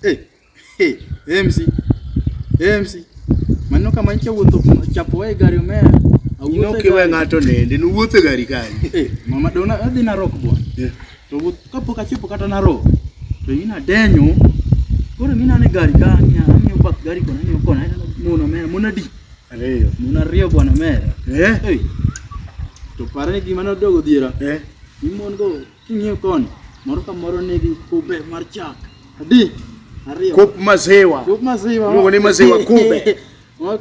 Hey, hey, MC. Hey, MC. Maneno kama nchi wuotho chapo wae gari omera. Awuotho we ng'ato nende, nuwuotho e gari kani. Hey, eh, mama dona adhi na rock bwana. Yeah. To wuoth kapok achopo kata na rock. To ina denyo. Koro mina ne gari kani, amiyo bak gari kona ni kona. Mona mera, mona di. Ariyo. Mona riyo bwana mera. Eh. Hey. To pare gima nodogo dhiera. Eh. Imon go. King'iyo koni, moro ka moro nigi kube mar chak. Adi? Ariyo. Kop maziwa. Kop maziwa. Iluongo ni maziwa kube.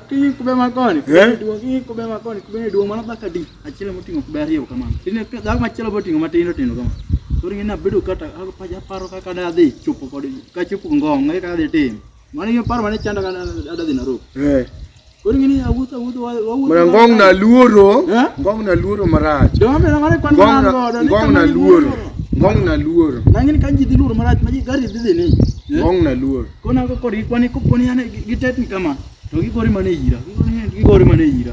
King'iyo kube ma koni, eh? duong' king'iyo kube ma koni, kube ni duong' mano dhako adi? Achiel moting'o kube ariyo kamano. Tine dhako machielo boting'o matindo tindo kamano. Koro ing'e nabedo kata aparo kaka nadhi chopo kod kachopo ngong' eka adhi timo. Mano yo paro mane chanda kana adadhi Nairobi. Eh. Koro ngini awuotho awuotho awuotho. Mara ngong na luoro. Eh? Ngong na luoro marach. Dwa mera ngare kwan ngong na godo. Ngong na luoro. Ngong na luoro. Nangini kan jidhi luoro marach ma gari dhi ni. Eh? Ngong na luoro. Kona ko kori kwani ko poni ane gitetni kama. To gigori mane ira. Gigori mane ira.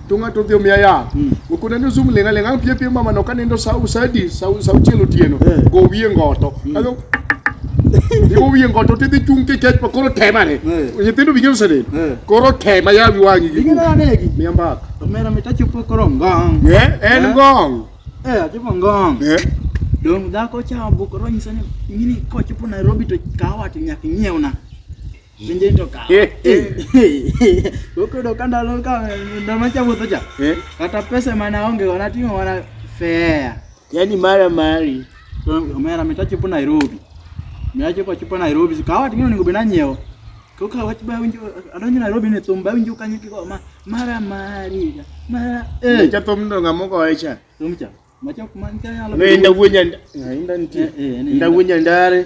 to ng'ato odhi omiya yath Mm. okona ni zoom lenga lenga pie pie mama no kanindo sa usadi sa sa uchielo tieno Eh. go wiye ngoto kago Iwo wiye ngoto tidhi chung' kikech pa koro tema ne Eh. nyithindo bigeno sene Eh. koro tema yawi wang'i gi Ing'e nade gi? miya mbaka Omera mit achopo koro ngong. Eh, en Eh. ngong Eh, achopo ngong. Eh, Dong' dhako cha obukoro nyisa ni ing'e ni kochopo Nairobi to kawa to nyaka inyiewna. Winje to ka. Eh, eh. Okodo ka ndalo ka ndalo macha wuotho cha. Eh? Kata pesa mana onge wana timo wana fair. Yaani mara mari. To mera mitachipo Nairobi. Mitachipo chipo Nairobi. Kawa tingino ningo bena nyeo. Koka wach ba winjo adonjo Nairobi ne thum ba winjo kanyo kiko ma mara mari. Mara eh. Cha thum ndo ngamo ko echa. Thum cha. Macha kuma nitanyalo. Nda wunya nda. Nda wunya ndare.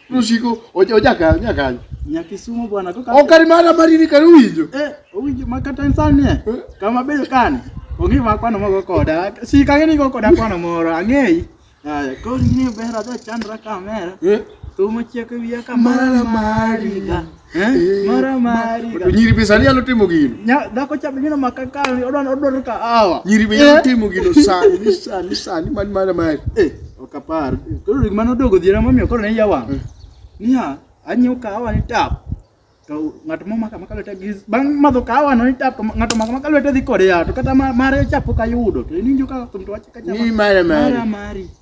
Rusiko oja oja ka oja ka. Nyakisumo bwana koka. Okari mana mariri kari winjo. Eh, winjo makata insani eh. eh. Kama bedo kani. Ongi ma kwano mogo koda. Si ka ngeni go koda kwano moro angei. Aya, ko ni bera da chandra kamera. Eh. Tumo cheke wiya kamera mari. Eh, mara mari. Nyiri be sani nyalo timo gino. Nya dhako cha bingino makaka odwan odwaro ka awa. Nyiri be nyalo eh. timo gino sani sani sani man mara mari. Eh, okapar. Koro ring mano dogo dhiera mamiyo koro ne yawa. Eh. Niya, anyiw kahawa ni tap. To ng'at mo maka maka lwete gi bang' madho kahawa no ni tap to ng'ato maka maka lwete dhi kode ya to kata mare chapo ka yudo to ininjo ka thum to wacha ka chama. Ni mara mari. Mara mari.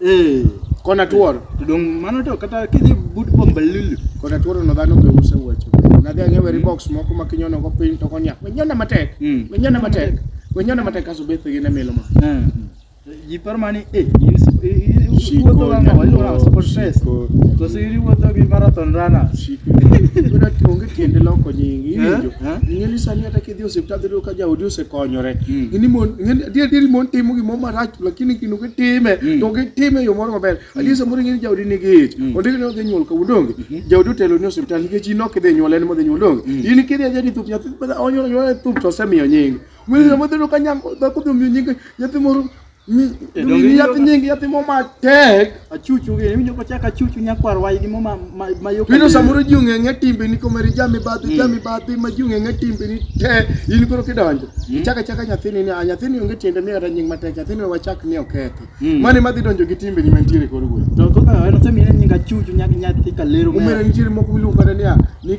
Eh, kona tuoro to dong mano to kata kidhi but bombalulu kona tuoro no dhano be use weche nadhi ang'e weri box moko ma kinyono go piny to konya wenyona matek Mm. wenyona matek wenyona matek kaso bethi gi ne milo ma Eh, ji paro mani eh in sp- i- i- i- Shiko wuotho ga ng'awa, iluongo nyaduo, sport dress. shiko To si in iwuotho gi marathon runner. shiko Yudo onge tiende loko nyingi iwinjo Eh, eh. ing'eni sani kata dhi osiptal dhi ka jaodi osekonyore mm. ng'eni mon ng'eni adier adier mon timo gimoro marach lakini kino gitime mm. to gitime e yo moro maber mm. adier samoro ng'eni jaodi nigi ich mm. ondik ni odhi nyuol kawuono donge mm -hmm. jaodi otelo ni osiptal nikech in ok idhi nyuol en modhi nyuol donge mm. in kidhi ajadi thup nyathi onyuol nyuol thup to osemiyo nying ng'eni mm. samoro dhino ka nyako dhako dhi omiyo nying nyathi moro Yatimo matek achuchu gi winjo ko chaka chuchu nyakwar wai gi mama ma yo. Pino samoro ji ong'e ng'e timbe ni ko mari jami bathi mm. jami bathi ma ji ong'e ng'e timbe ni te in koro kidonjo. Mm. Chaka chaka nyathini ni nyathini onge tiende mi kata nying matek nyathini wachak ni okethi. Mm. Mani madhi donjo gi timbe ni mantiere koro wuoyi. To kaka en osemi ni nyinga chuchu nyathi kalero. Umere nitiere moko miluongo kata niya ni